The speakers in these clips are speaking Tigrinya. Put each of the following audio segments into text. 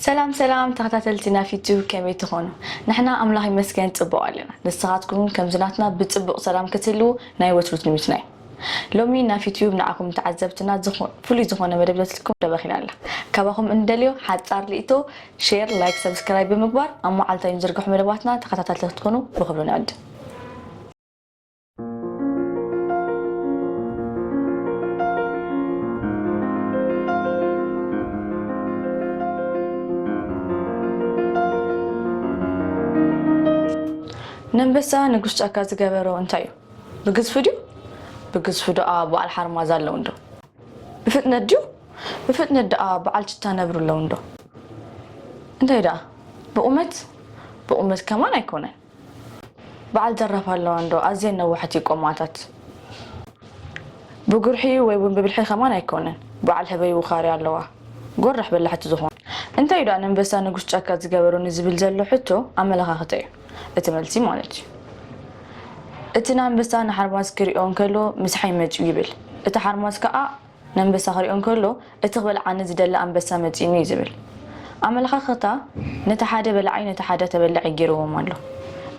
ሰላም ሰላም ተኸታተልቲ ናብ ዩቱብ ከመይ ትኾኑ ንሕና ኣምላኽ ይመስገን ፅቡቕ ኣለና ንስኻትኩም እውን ከምዚ ናትና ብፅቡቕ ሰላም ክትህልዉ ናይ ወትሩ ትምኒትና እዩ ሎሚ ናብ ዩቱብ ንዓኹም ተዓዘብትና ዝኾ- ፍሉይ ዝኾነ መደብ ዘትልኩም ደበኺና ኣላ ካባኹም እንደልዮ ሓፃር ርእቶ ሼር ላይክ ሰብስክራይብ ብምግባር ኣብ መዓልታዊ ንዝርግሑ መደባትና ተኸታታልቲ ክትኮኑ ብክብሪ ንዕድም ነንበሳ ንጉስ ጫካ ዝገበሮ እንታይ እዩ? ብግዝፉ ድዩ? ብግዝፉ ደኣ በዓል ሓርማዝ ኣለዉ እንዶ? ብፍጥነት ድዩ? ብፍጥነት ደኣ በዓል ችታ ነብሪ ኣለዉ እንዶ? እንታይ ደኣ ብቑመት? ብቑመት ከማን ኣይኮነን። በዓል ዘራፍ ኣለዋ እንዶ ኣዝየን ነዋሕት እዩ ቆማታት ብጉርሒ ወይ እውን ብብልሒ ከማን ኣይኮነን በዓል ህበይ ውኻርያ ኣለዋ ጎራሕ በላሕቲ ዝኾኑ እንታይ እዩ ደኣ ነንበሳ ንጉስ ጫካ ዝገበሮ ንዝብል ዘሎ ሕቶ ኣመለኻኽታ እዩ እቲ መልሲ ማለት እዩ እቲ ንኣንበሳ ንሓርማዝ ክሪኦ እንከሎ ምስሓይ መጺኡ ይብል እቲ ሓርማዝ ከኣ ነንበሳ ክሪኦ እንከሎ እቲ ክበልዓኒ ዝደሊ ኣንበሳ መጺኡኒ እዩ ዝብል ኣመለኻኽታ ነቲ ሓደ በላዒ ነቲ ሓደ ተበላዒ ጌርዎም ኣሎ።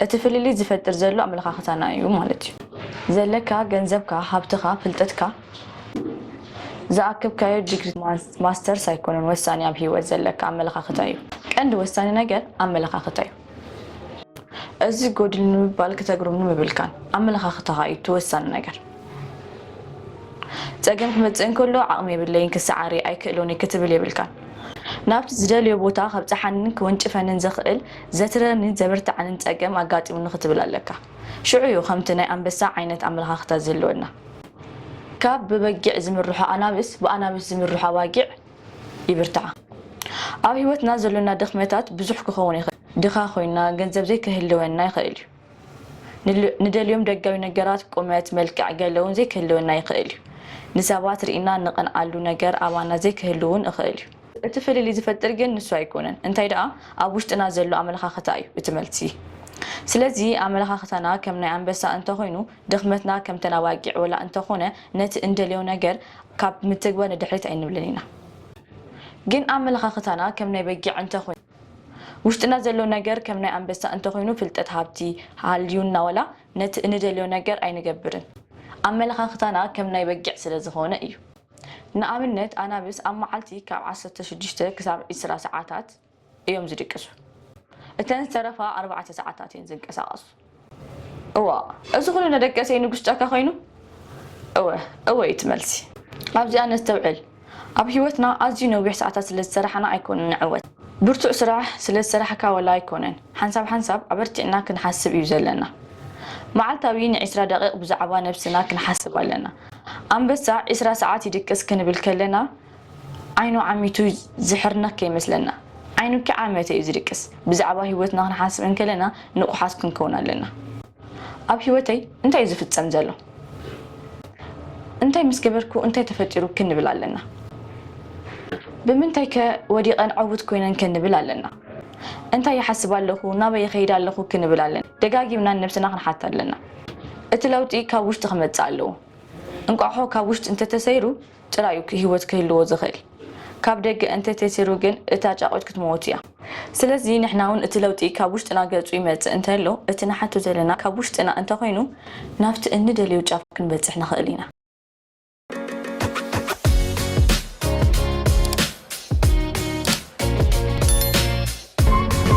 እቲ ፍልልይ ዝፈጥር ዘሎ ኣመለኻኽታና እዩ ማለት እዩ። ዘለካ ገንዘብካ ሃብትኻ ፍልጥትካ ዝኣከብካዮ ዲግሪ ማስተርስ ኣይኮነን ወሳኒ ኣብ ሂወት ዘለካ ኣመለኻኽታ እዩ። ቀንዲ ወሳኒ ነገር ኣመለኻኽታ እዩ። እዚ ጎድል ንምባል ክተግርም ንምብልካን ኣመለኻኽታኻ እዩ እቲ ወሳኒ ነገር። ጸገም ክመጽእ እንከሎ ዓቕሚ የብለይን ክሰዓር'የ ኣይክእሎን'የ ክትብል የብልካን። ናብቲ ዝደልዮ ቦታ ከብጽሓንን ክወንጭፈንን ዘኽእል ዘትረርኒን ዘብርትዓንን ጸገም ኣጋጢሙኒ ክትብል ኣለካ። ሽዑ'ዩ ከምቲ ናይ ኣንበሳ ዓይነት ኣመለኻኽታ ዝህልወና። ካብ ብበጊዕ ዝምርሑ ኣናብስ ብኣናብስ ዝምርሑ ኣባጊዕ ይብርትዓ ኣብ ሂወትና ዘሎና ድክመታት ብዙሕ ክከውን ይክእል ድካ ኮይና ገንዘብ ዘይ ከህልወና ይክእል እዩ ንደልዮም ደጋዊ ነገራት ቁመት መልክዕ ገለ ውን ዘይ ክህልወና ይክእል እዩ ንሰባት ሪኢና ንቀንዓሉ ነገር ኣባና ዘይ ክህሉ ውን እክእል እዩ እቲ ፍልልይ ዝፈጥር ግን ንሱ ኣይኮነን እንታይ ደኣ ኣብ ውሽጥና ዘሎ ኣመለካክታ እዩ እቲ መልሲ ስለዚ ኣመለካክታና ከም ናይ ኣንበሳ እንተ ኮይኑ ድኽመትና ከምተን ኣባጊዕ ወላ እንተኾነ ነቲ እንደልዮ ነገር ካብ ምትግበር ንድሕሪት ኣይንብልን ኢና ግን ኣመለኻኽታና ከም ናይ በጊዕ እንተኾይኑ ውሽጥና ዘሎ ነገር ከም ናይ ኣንበሳ እንተኾይኑ ፍልጠት ሃብቲ ሃልዩና ወላ ነቲ እንደልዮ ነገር ኣይንገብርን ኣመለኻኽታና ከም ናይ በጊዕ ስለ ዝኾነ እዩ ንኣብነት ኣናብስ ኣብ መዓልቲ ካብ ዓሰርተ ሽዱሽተ ክሳብ ዕስራ ሰዓታት እዮም ዝድቅሱ። እተን ዝተረፋ ኣርባዕተ ሰዓታት እየን ዝንቀሳቐሱ። እዋእ! እዚ ኹሉ ነደቀሰይ ንጉስ ጫካ ኮይኑ? እወ! እወ! እዩ እቲ መልሲ። ኣብዚኣ ነስተውዕል፣ ኣብ ህይወትና ኣዝዩ ነዊሕ ሰዓታት ስለ ዝሰራሕና ኣይኮነን ንዕወት። ብርቱዕ ስራሕ ስለ ዝሰራሕካ ወላ ኣይኮነን፣ ሓንሳብ ሓንሳብ ኣበርቲዕና ክንሓስብ እዩ ዘለና። መዓልታዊ ንዒስራ ደቒቕ ብዛዕባ ነብስና ክንሓስብ ኣለና። ኣንበሳ ዒስራ ሰዓት ይድቅስ ክንብል ከለና፣ ዓይኑ ዓሚቱ ዝሕርነክ ከይመስለና ዓይኑ ኪዕ ዓመተ እዩ ዝድቅስ ብዛዕባ ሂወትና ክንሓስብ እንከለና ንቁሓት ክንከውን ኣለና ኣብ ሂወተይ እንታይ እዩ ዝፍጸም ዘሎ እንታይ ምስ ገበርኩ እንታይ ተፈጢሩ ክንብል ኣለና ብምንታይ ከ ወዲቀን ዕውት ኮይነን ከንብል ኣለና እንታይ ይሓስብ ኣለኹ ናበይ ይኸይድ ኣለኹ ክንብል ኣለና ደጋጊምና ንነብስና ክንሓት ኣለና እቲ ለውጢ ካብ ውሽጢ ክመጽእ ኣለዎ እንቋሖ ካብ ውሽጢ እንተተሰይሩ ጥራይ እዩ ህይወት ክህልዎ ዝኽእል። ካብ ደገ እንተ ተሲሩ ግን እታ ጫቝት ክትመውት እያ። ስለዚ ንሕና እውን እቲ ለውጢ ካብ ውሽጥና ገጹ ይመጽእ እንተሎ እቲ ንሓቱ ዘለና ካብ ውሽጥና እንተ ኾይኑ ናብቲ እንደልዮ ጫፍ ክንበጽሕ ንኽእል ኢና።